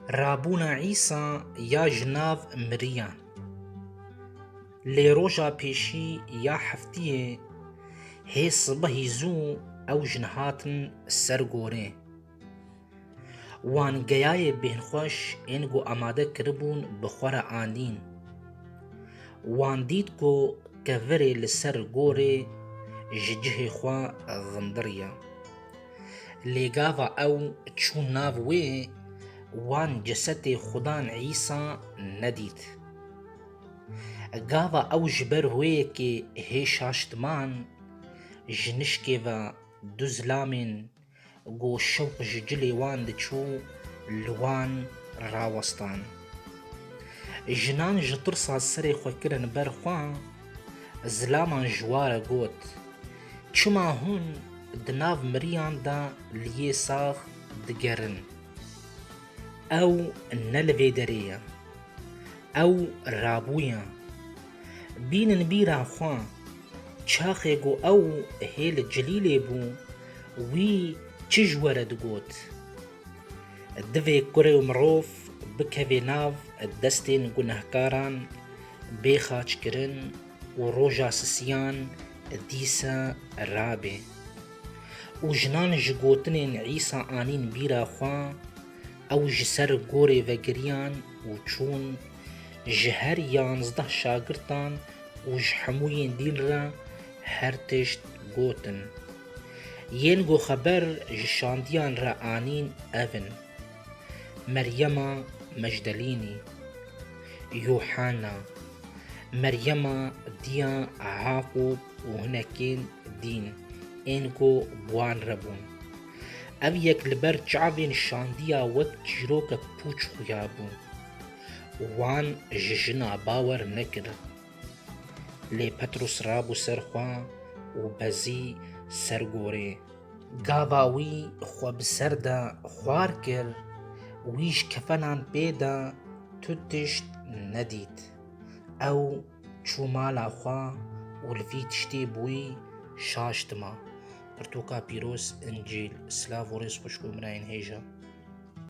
Rabûna Îsa ya ji nav miriyan. Lê roja pêşî ya heftiyê hê sibehî zû ew jin hatin ser gorê. Wan geyayê bêhnxweş ên ku amade kiribûn bi xwe re andîn. Wan dît ku kevirê li ser gorê ji cihê xwe xindiriye. Lê gava ew çûn nav wê, wan cesetê Xudan Îsa nedît. Gava ew ji ber hoyekê hê şaştman ji nişkê ve du zilamên Ku şewq ji cilê wan diçû li wan rawestan. Jinan ji tirsa serê xwe kirin ber xwe, zilaman ji ware got, Çima hûn di nav miriyan de li yê sax digerin? Ew ne li vê derê ye. Ew rabûye. Bînin bîra xwe, çaxê ku ew hê li Cilîlê bû wî çi ji we re digot? Divê kurê û mirov bikevê nav destên gunehkaran, bê xaçkirin û roja sisiyan dîsa rabe. Û jinan ji gotinên Îsa anîn bîra xwe, ew ji ser gorê vegiriyan û çûn Ji her yanzdeh şagirtan û ji hemû yên dîn re her tişt gotin. Yên ku xeber ji şandiyan re anîn ev in, Meryema Mecdelînî, Yuhana, Meryema diya Hakob û hinekên dîn ên ku bi wan re bûn. Ev yek li ber çavên şandiya wek çîrokek pûç xuya bû. Wan ji jina bawer nekirib. Lê Petrûs rabû ser xwe û bezî ser gorê. Gava wî xwe bi ser de xwar kir, wî ji kefenan pê de tu tişt nedît. Ew çû mala xwe û li vî tiştê bûyî şaş dima. Pirtûka pîroz, Încîl. Silav û rêz xwişk û birayên hêja.